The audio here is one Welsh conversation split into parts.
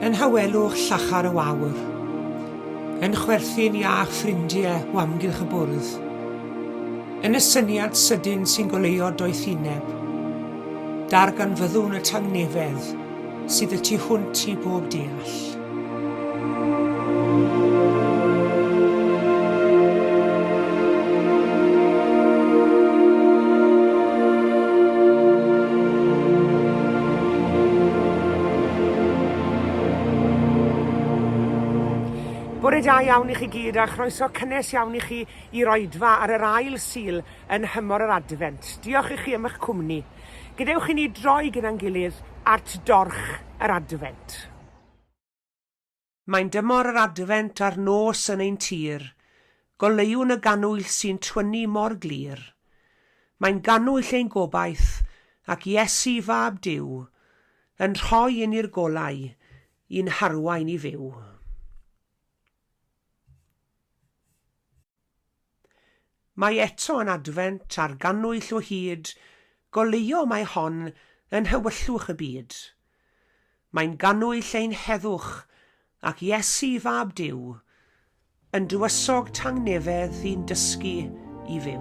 Yn hawelwch llachar y wawr. Yn chwerthin iach ffrindie o amgylch y bwrdd. Yn y syniad sydyn sy'n goleuo doethineb. Darganfyddwn y tangnefedd. Sydd y tu hwnt i bob deall. Bore da iawn i chi gyd a chroeso cynnes iawn i chi i'r oedfa ar yr ail Sul yn nhymor yr Adfent. Diolch i chi am eich cwmni. Gadewch i ni droi gyda'n gilydd at dorch yr Adfent. Mae'n dymor yr Adfent a'r nos yn ein tir, Goleuwn y gannwyll sy'n twynnu mor glir. Mae'n gannwyll ein gobaith, ac Iesu, Fab Duw, Yn rhoi i ni'r golau i'n harwain i fyw. Mae eto yn Adfent a'r gannwyll o hyd, Goleuo mae hon yn nhewyllwch y byd. Mae'n gannwyll ein heddwch, ac Iesu, Fab Duw, Yn dywysog tangnefedd i'n dysgu i fyw.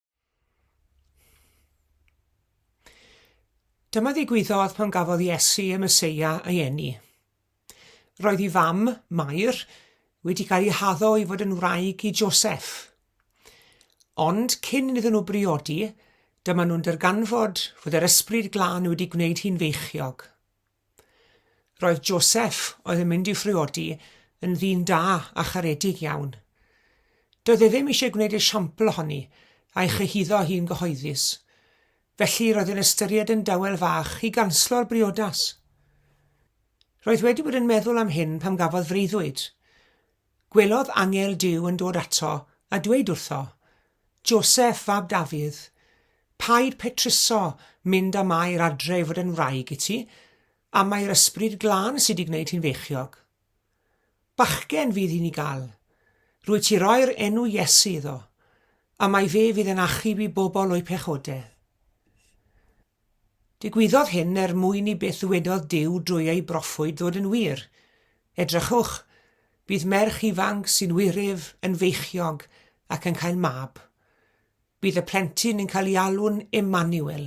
Dyma ddigwyddodd pan gafodd Iesu y Meseia ei eni. Roedd ei fam, Mair, wedi cael ei haddo i fod yn wraig i Joseph. Ond cyn iddyn nhw briodi, dyma nhw'n darganfod fod yr ysbryd glân wedi gwneud hi'n feichiog. Roedd Joseph, oedd yn mynd i'w phriodi, yn ddyn da a charedig iawn. Doedd e ddim eisiau gwneud esiampl ohoni a'i chyhuddo hi'n gyhoeddus, felly roedd yn ystyried yn dawel fach i ganslo'r briodas. Roedd wedi bod yn meddwl am hyn pam gafodd freuddwyd, Gwelodd angel Duw yn dod ato, a dweud wrtho, Joseff, fab Dafydd, paid petruso mynd â Mair adre i fod yn wraig i ti, am mai'r Ysbryd Glân sy 'di gwneud hi'n feichiog. Bachgen fydd hi'n 'i gal. Rwyt ti roi'r enw Iesu iddo, am mai fe fydd yn achub i bobl o'u pechode. Digwyddodd hyn er mwyn i beth ddywedodd Duw drwy ei broffwyd ddod yn wir, Edrychwch, bydd merch ifanc sy'n wiryf yn feichiog ac yn cael mab. Bydd y plentyn yn cael ei alw'n Emmanuel,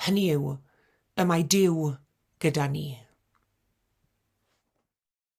hynny yw, Y Mae Duw Gyda Ni.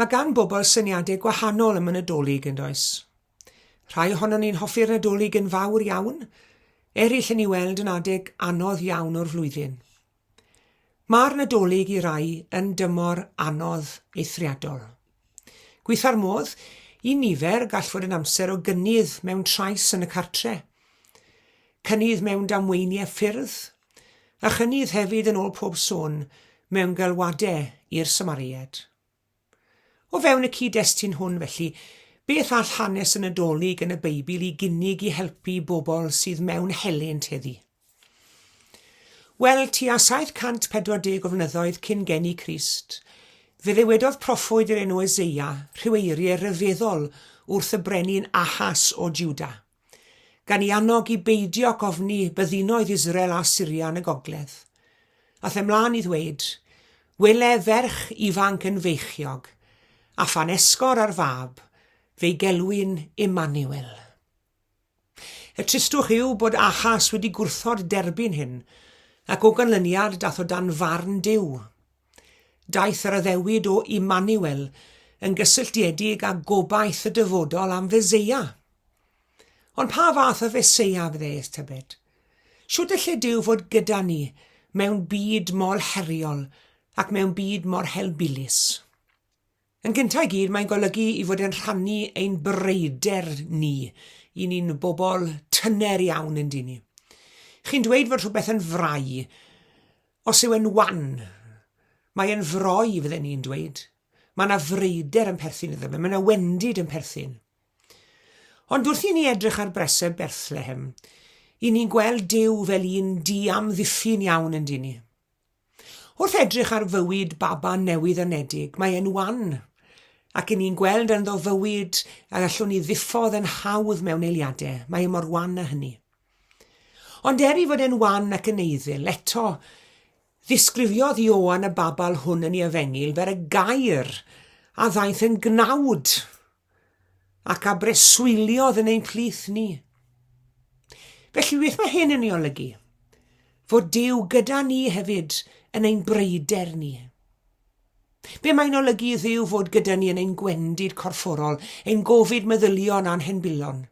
Mae gan bobl syniadau gwahanol am y Nadolig yn does. Rhai ohonon ni'n hoffi'r Nadolig yn fawr iawn, eraill yn ei weld yn adeg anodd iawn o'r flwyddyn. Mae'r Nadolig i rai yn dymor anodd eithriadol. Gweitha'r modd, i nifer gall fod yn amser o gynnydd mewn trais yn y cartre, cynnydd mewn damweiniau ffyrdd, a chynnydd hefyd yn ôl pob sôn mewn galwadau i'r Samariaid. O fewn y cyd-destun hwn felly, beth all hanes y Nadolig yn y Beibl i gynnig i helpu bobl sydd mewn helynt heddi? Wel, tua 740 o flynyddoedd cyn geni Crist, fe ddewedodd proffwyd yr enw Eseia rhyw eiriau ryfeddol wrth y brenin Ahas o Judah. gan ei annog i beidio ac ofni byddinoedd Israel a Syria yn y gogledd. Ath e mlaen i ddweud, Wele ferch ifanc yn feichiog, a phan esgor ar fab, fe'i gelwyn Immanuel. Y tristwch yw bod Achas wedi gwrthod derbyn hyn, ac o ganlyniad dath o dan farn Duw. Daeth yr addewid o Immanuel yn gysylltiedig â gobaith y dyfodol am Feseia. Ond pa fath o Feseia fyddeeth, tybed? Shwt y lle Duw fod gyda ni mewn byd mor heriol ac mewn byd mor helbulus? Yn gyntaf i gyd, mae'n golygu i fod yn rhannu ein bryder ni. I ni'n bobl tyner iawn yn dyn ni. Chi'n dweud fod rhywbeth yn frai os yw e'n wan. Mae e'n froi, fydden ni'n dweud. Mae yna freider yn perthyn iddo fe, mae yna wendid yn perthyn. Ond wrth i ni edrych ar breseb Berthlehem, i ni'n gweld Dyw fel un di-amddiffyn iawn yn dyn ni. Wrth edrych ar fywyd baban newydd anedig, mae e'n wan, ac i ni'n gweld ynddo fywyd a allwn ni ddiffodd yn hawdd mewn eiliadau, mae e mor wan â hynny. Ond er i fod e'n wan ac yn eiddil, eto, ddisgrifiodd Ioan y babal hwn yn ei efengyl fel y gair a ddaeth yn gnawd ac a breswyliodd yn ein plith ni. Felly beth mae hyn yn ei olygu? Fod Dyw gyda ni hefyd yn ein breider ni. Be mae'n olygu i ddiw fod gyda ni yn ein gwendid corfforol, ein gofid meddylion a'n henbulon?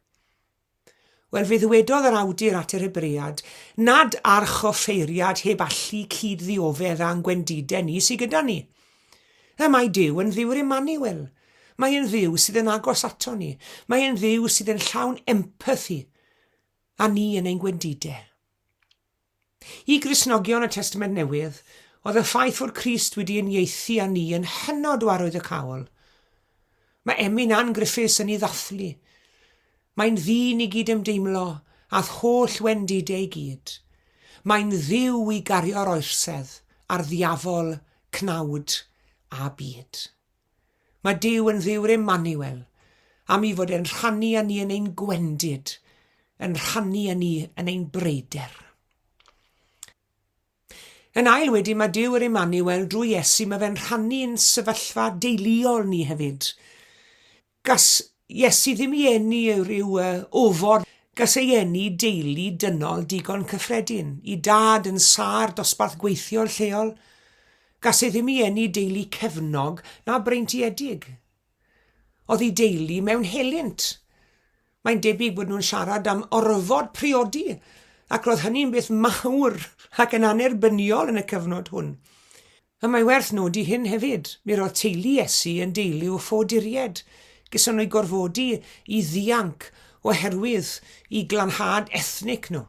Wel, fe ddywedodd yr awdur at yr Hebread, Nad arch offeiriad heb allu cyd-ddioddef â'n gwendidau ni sydd gyda ni. Y mae Duw yn Dduw'r Emmanuel. Mae e'n Dduw sydd yn agos ato ni. Mae e'n Dduw sydd yn llawn empathi a ni yn ein gwendidau. I Gristnogion y Testament Newydd, oedd y ffaith fod Crist wedi uniaethu â ni yn hynod o arwyddocaol. Mae Emyn Ann Griffiths yn ei ddathlu. Mae'n ddyn i gyd ymdeimlo â'th holl wendidau i gyd. Mae'n dduw i gario'r oersedd a'r ddiafol, cnawd a byd. Mae Duw yn Dduw'r Emmanuel, am i fod e'n rhannu â ni yn ein gwendid, yn rhannu â ni yn ein breider. Yn ail wedyn, mae Duw yr Emmanuel drwy Iesu, mae fe'n rhannu'n sefyllfa deuluol ni hefyd. Gas Iesu ddim i eni ei ryw uh, ofod, gas ei eni deulu dynol digon cyffredin, i dad yn sâr dosbarth gweithiol lleol. Gas ei ddim i eni deulu cefnog na breintiedig. Oedd ei deulu mewn helynt. Mae'n debyg bod nhw'n siarad am orfod priodi, ac roedd hynny'n beth mawr ac yn annerbyniol yn y cyfnod hwn. A mae werth nodi hyn hefyd, mi roedd teulu Iesu yn deulu o ffoaduriaid, gyson o'i gorfodi i ddianc oherwydd i glanhad ethnic nhw.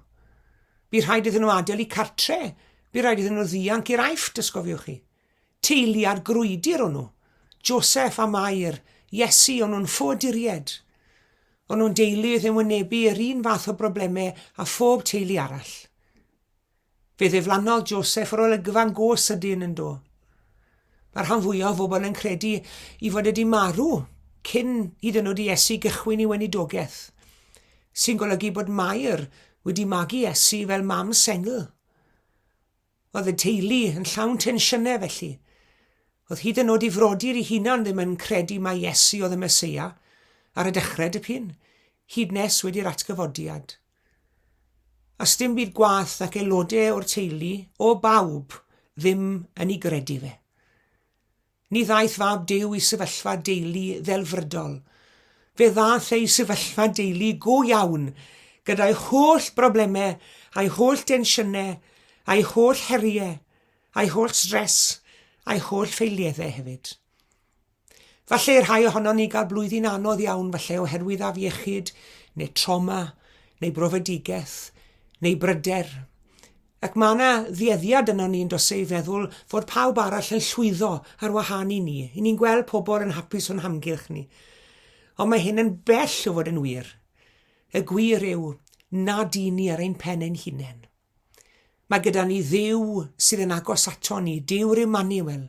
Bu rhaid iddyn nhw adael i cartre, bu raid iddyn nhw ddianc i'r Aifft, os cofiwch chi. Teulu ar grwydr o'n nhw. Joseph a Mair, Iesu, o'n nhw'n ffoaduriaid. O'n nhw'n deulu oedd yn wynebu yr un fath o broblemau a phob teulu arall. Fe ddiflannodd Joseph yr olygfa'n go sydyn yn do. Mae rhan fwyaf o bobl yn credu i fod wedi marw cyn hyd yn oed i Iesu gychwyn i weinidogaeth, sy'n golygu bod Mair wedi magu Iesu fel mam sengl. Oedd y teulu yn llawn tensiynau felly. Oedd hyd yn oed i frodyr i hunan ddim yn credu mai Iesu oedd y Meseia ar y dechrau dipyn, hyd nes wedi'r atgyfodiad. A sdim byd gwaeth nac aelode o'r teulu, o bawb, ddim yn ei gredu fe. Ni ddaeth fab Duw i sefyllfa deulu ddelfrydol. Fe ddaeth ei sefyllfa deulu go iawn, gyda'i holl broblemau, a'i holl densiynau, a'i holl heriau, a'i holl stress, a'i holl ffeilieddau hefyd. Falle i'r rhai ohonon ni gael blwyddyn anodd iawn falle oherwydd afiechyd, neu troma, neu brofedigaeth, neu bryder. Ac mae yna ddueddiad yno ni yn dos ei feddwl fod pawb arall yn llwyddo ar wahân i ni. I ni'n gweld pobl yn hapus o'n hamgylch ni. Ond mae hyn yn bell o fod yn wir. Y gwir yw nad i ni ar ein pen ein hunain. Mae gyda ni Dduw sydd yn agos ato ni, Duw'r Immanuel,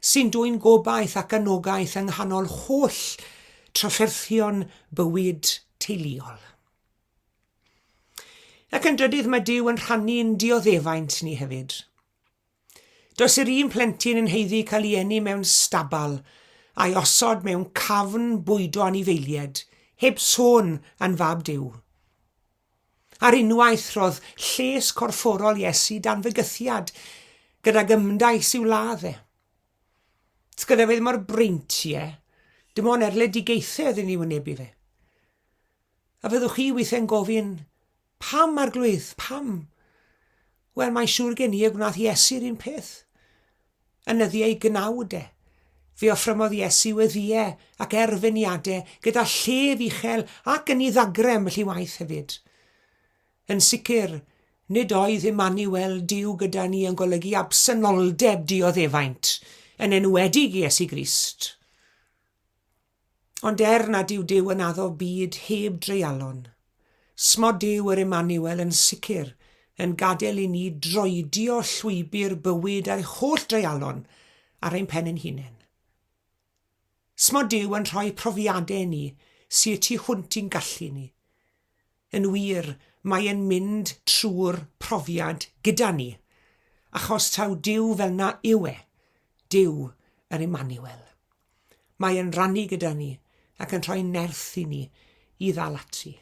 sy'n dwyn gobaith ac anogaeth yng nghanol holl trafferthion bywyd teuluol. Ac yn drydydd, mae Duw yn rhannu'n dioddefaint ni hefyd. Does yr un plentyn yn heiddi cael ei eni mewn stabal a'i osod mewn cafn bwydo anifeilied, heb sôn yn fab Duw. Ar unwaith, roedd lles corfforol Iesu dan fygythiad gydag ymdais i'w ladd e. Tgydefyd mor brint i e, dim ond erledigaethau oedd yn ei wynebu fe. A fyddwch chi weithiau'n gofyn, pam arglwydd, pam? Wel, mae'n siŵr gen i y gwnaeth Iesu'r un peth. Yn nyddiau ei gnawd e, fe offrymodd Iesu weddiau ac erfyniadau gyda llef uchel ac yn ei ddagrem felly waith hefyd. Yn sicr, nid oedd Emmanuel, Duw gyda ni, yn golygu absenoldeb dioddefaint, yn enwedig Iesu Grist. Ond er nad yw Duw yn addo byd heb dreialon, smod Duw yr Emmanuel yn sicr yn gadael i ni droedio llwybr bywyd a'i holl dreialon ar ein pen ein hunain. Smod Duw yn rhoi profiadau i ni sy y tu hwnt i'n gallu ni. Yn wir, mae e'n mynd trwy'r profiad gyda ni, achos taw Duw fel na yw e, Duw yr Emmanuel. Mae e'n rannu gyda ni ac yn rhoi nerth i ni i ddal ati.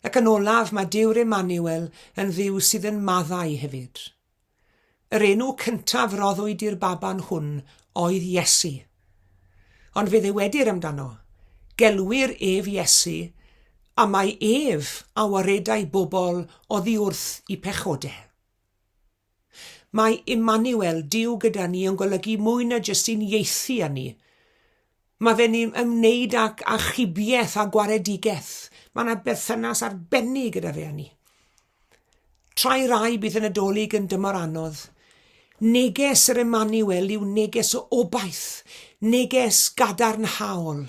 Ac yn olaf, mae Dyw'r Emmanuel yn ddiw sydd yn maddau hefyd. Yr enw cyntaf roddwyd i'r baban hwn oedd Iesu. Ond fe ddywedir amdano, gelwir ef Iesu, a mae ef a waredai bobl oddi wrth i pechodau. Mae Immanuel, Duw gyda ni, yn golygu mwy na jyst sy'n ieithu â ni. Mae fe'n ni'n ymwneud ac achubiaeth a gwaredigaeth. Mae yna berthynas arbennig gyda fe â ni. Trai rai bydd y Nadolig yn dymor anodd. Neges yr Immanuel yw neges o obaith, neges gadarnhaol.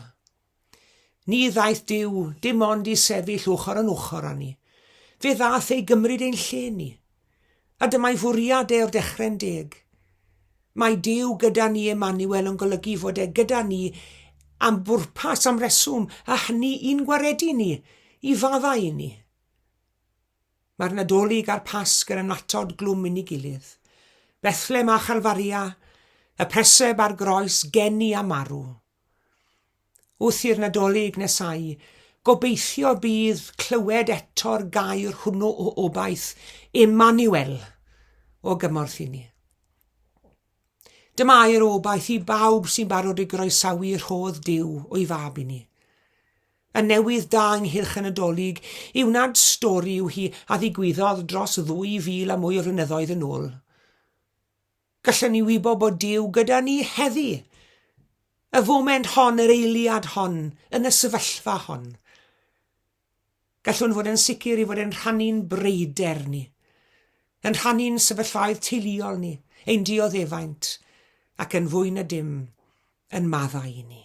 Ni ddaeth Duw dim ond i sefyll ochr yn ochr â ni. Fe ddaeth ei gymryd ein lle ni. A dyma'i fwriad e o'r dechre'n deg. Mae Duw gyda ni Emmanuel yn golygu fod e gyda ni am bwrpas, am reswm, a hynny i'n gwaredu ni, i faddau i ni. Mae'r Nadolig a'r Pasg yn annatod glwm yn ei gilydd. Bethlem a Chalfaria, y preseb a'r groes, geni a marw. Wrth i'r Nadolig nesau, gobeithio bydd clywed eto'r gair hwnnw o obaith, Emmanuel, o gymorth i ni. Dyma air obaith i bawb sy'n barod i groesawu rhodd Duw o'i fab i ni. Y newydd da ynghylch y Nadolig yw nad stori yw hi a ddigwyddodd dros 2,000 a mwy o flynyddoedd yn ôl. Gallwn ni wybod bod Duw gyda ni heddi, y foment hon, yr eiliad hon, yn y sefyllfa hon. Gallwn fod yn sicr i fod yn rhannu'n breider ni, yn rhannu'n sefyllfaoedd teuluol ni, ein dioddefaint, ac yn fwy na dim, yn maddau i ni.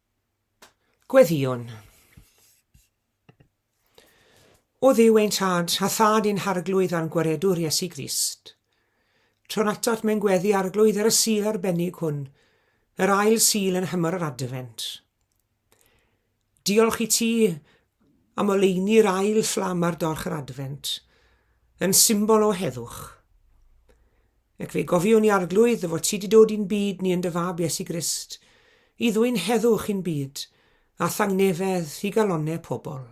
Gweddïwn. O Dduw ein Tad, a Thad i'n Harglwydd a'n Gwaredwr Iesu Grist, tro'n atat mewn gweddi Arglwydd ar y Sul arbennig hwn, yr ail Sul yn nhymor yr Adfent. Diolch i ti am oleuni'r ail fflam ar dorch yr Adfent, yn symbol o heddwch. Ac fe gofiwn i arglwydd fod ti di dod i'n byd ni yn dy fab Iesu Grist, i ddwyn heddwch i'n byd, a thangnefedd i galonne pobl.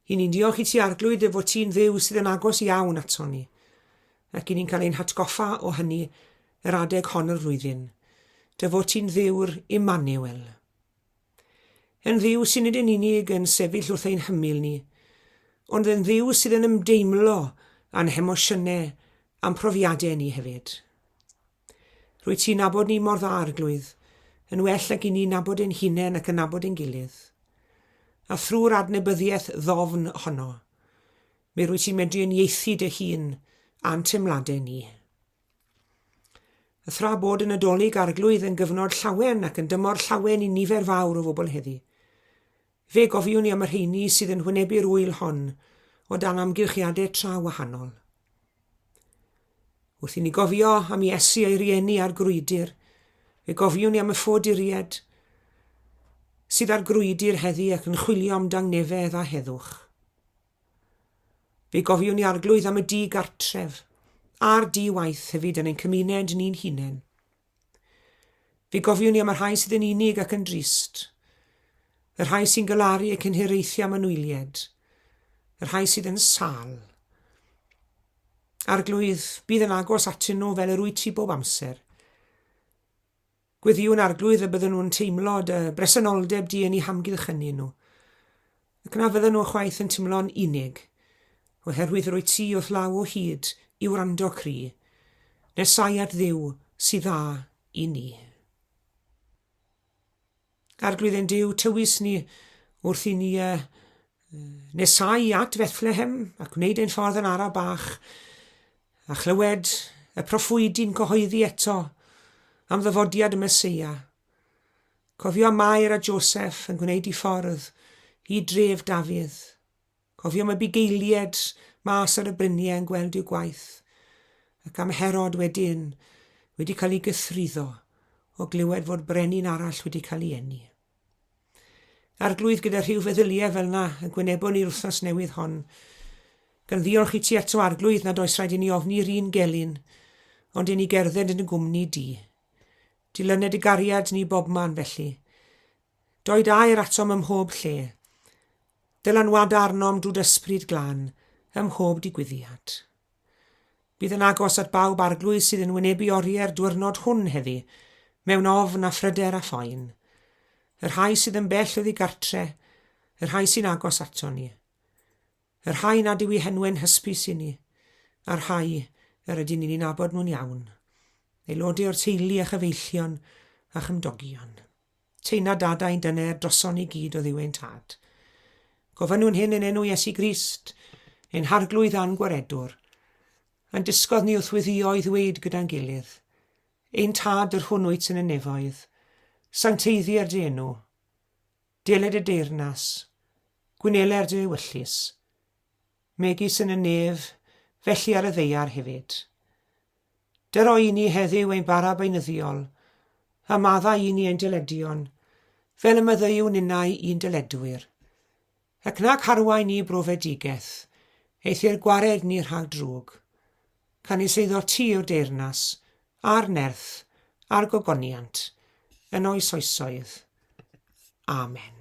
I ni'n diolch i ti arglwydd dy fod ti'n ddew sydd yn agos iawn ato ni, ac i ni'n cael ein hatgoffa o hynny yr adeg hon o'r flwyddyn. Dy fod ti'n ddewr Immanuel. Yn Dduw sy'n nid yn unig yn sefyll wrth ein hymyl ni, ond yn Dduw sydd yn ymdeimlo a'n hemosiynau a'n profiadau ni hefyd. Rwy ti'n nabod ni mor dda, Arglwydd, yn well ag i ni nabod ein hunain ac yn nabod ein gilydd. A thrwy'r adnebyddiaeth ddofn honno, mi rwy ti'n medru yn ieithu dy hun a'n teimladau ni. A thra bod y Nadolig Arglwydd yn gyfnod llawen ac yn dymor llawen i nifer fawr o fobl heddi, fe gofiwn i am y rheini sydd yn hwynebu'r ŵyl hon o dan amgylchiadau tra wahanol. Wrth i ni gofio am Iesu a'i rieni ar grwydr, fe gofiwn i am y ffoduried sydd ar grwydr heddi ac yn chwilio am dangnefedd a heddwch. Fe gofiwn i arglwydd am y di gartref, a'r di waith hefyd yn ein cymuned ni'n hunain. Fe gofiwn i am y rhai sydd yn unig ac yn drist, y rhai sy'n galaru ac yn hiraethu am anwylied, y rhai sydd yn sal. Arglwydd, bydd yn agos atyn nhw fel yr wyt ti bob amser. Gweddïwn Arglwydd y bydden nhw'n teimlo dy bresenoldeb di yn eu hamgylch ynni nhw, ac na fydden nhw chwaith yn timlo'n unig, oherwydd rwyt ti wrth law o hyd i wrando cri, nesau at Dduw sy dda i ni. Arglwydd ein Duw, tywys ni wrth i ni y Nesai at Fethlehem ac wneud ein ffordd yn ara bach, a chlywed y proffwydi'n cyhoeddi eto am ddyfodiad y Meseia. Cofio am Mair a Joseph yn gwneud i ffordd i dref Dafydd. Cofio am y bugeilied mas ar y bryniau yn gweld i'w gwaith, ac am Herod wedyn wedi cael ei gythruddo o glywed fod brenin arall wedi cael ei eni. Arglwydd gyda rhyw feddyliau fel na y gwynebon ni'r wythnos newydd hon. Gan ddiolch i ti eto arglwydd nad oes rhaid i ni ofni'r un gelyn, ond i ni gerdded yn y gwmni di. Dilyned y gariad ni bobman felly. Doed air atom ym mhob lle. Dylanwada arnom drwy d'Yspryd Glân ym mhob digwyddiad. Bydd yn agos at bawb arglwydd sydd yn wynebu orie'r dwyrnod hwn heddi, mewn ofn a phryder a phoen. Y rhai sydd yn bell oddi gartre, y rhai sy'n agos aton ni. Y rhai nad yw i henwe'n hysbys i ni, a'r rhai yr ydyn ni'n nabod nhw'n iawn. Aelodau o'r teulu a chyfeillion a chymdogion. Tyna dada ein dyner droson ni gyd oddiw ein tad. Gofynnwn hyn yn enw Iesu Grist, ein harglwydd a'n gwaredwr. Yn disgodd ni wrth wyddio i ddweud gyda'n gilydd, Ein tad yr hwn wyt yn y nefoedd, sancteiddier dy enw, deled y deyrnas, gwyneler dy ewyllys, megis yn y nef, felly ar y ddeiar hefyd. Dyr o i ni heddyw ein bara beinyddiol, a madda i ni ein dyledion, fel y myddeiw ninnau i'n dyledwyr. Ac nag harwain ni brofedigeth, eithyr gwared ni rhag drwg. Canys eiddo ti yw'r deyrnas, a'r nerth, a'r gogoniant, yn oes oesoedd. Amen.